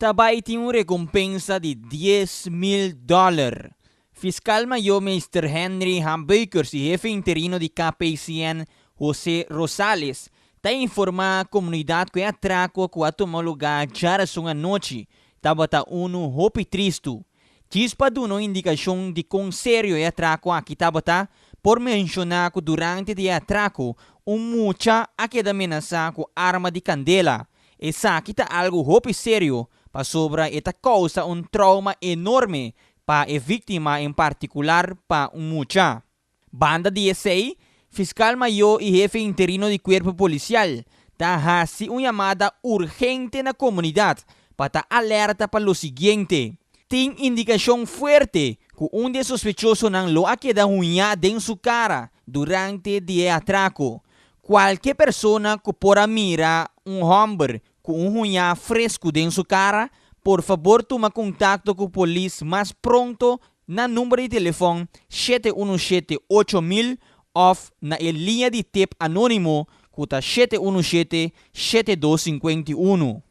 Ta bai tin un rekompensa di dies mil dòler. Fiskal Mayó Meester Henry H. Beukers i Hefe Interino di KPCN José Rosales ta informá komunidat ku e atrako ku a tuma lugá djarason anochi tabata unu hopi tristu. Djis pa duna un indikashon di kon serio e atrako aki tabata, por menshoná ku durante di e atrako un mucha a keda menasá ku arma di kandela Esaki ta algu hopi serio pasobra e ta kousa un trouma enorme pa e víktima en partikular pa un mucha. Banda di esei, Fiskal Mayó i Hefe Interino di Kuerpo Polisial ta hasi un yamada urgente na komunidat pa ta alèrta pa lo siguiente, Tin indikashon fuerte ku un di e sospechosonan lo a keda huñá den su kara durante di e atrako, Kualke persona ku por a mira un hòmber ku un huñá fresku den su kara, por fabor tuma kontakto ku polis mas pronto na number di telefòn shete unu shete ocho mil òf na e liña di tep anónimo ku ta shete unu shete shete dos sinkuenta i unu.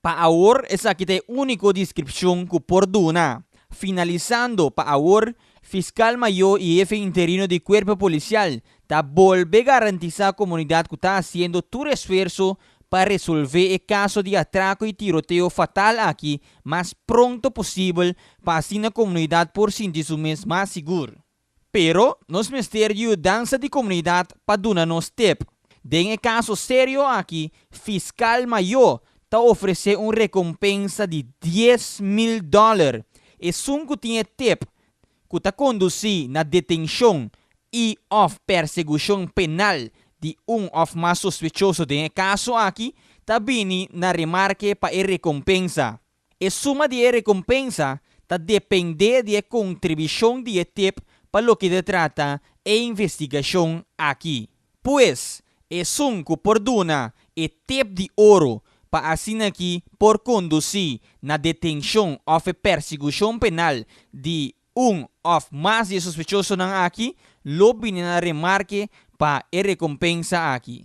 Pa awor esaki ta e úniko deskripshon ku por duna. Finalisando, pa awor, Fiskal Mayó i Hefe Interino di Kuerpo Polisial ta bolbe garantisá komunidat ku ta hasiendo tur esfuerso pa resolvé e kaso di atrako i tiroteo fatal aki mas pronto posibel pa asina komunidat por sinti su mes mas sigur. Pero nos mester yudansa di komunidat pa duna nos tep. Den e kaso serio aki, fiskal mayó ta ofresé un rekompensa di dies mil dòler esun ku tin e tep ku ta kondusí na detenshon i òf persegushon penal di un òf mas sospechoso den e kaso aki ta bini na remarke pa e rekompensa. E suma di e rekompensa ta dependé di e kontribishon di e tip pa loke ta trata e investigashon aki. Pues, esun ku por duna e tip di oro pa asina ki por kondusí na detenshon òf e persekushon penal di un òf mas di e sospechosonan aki lo bini na remarke pa e rekompensa aki.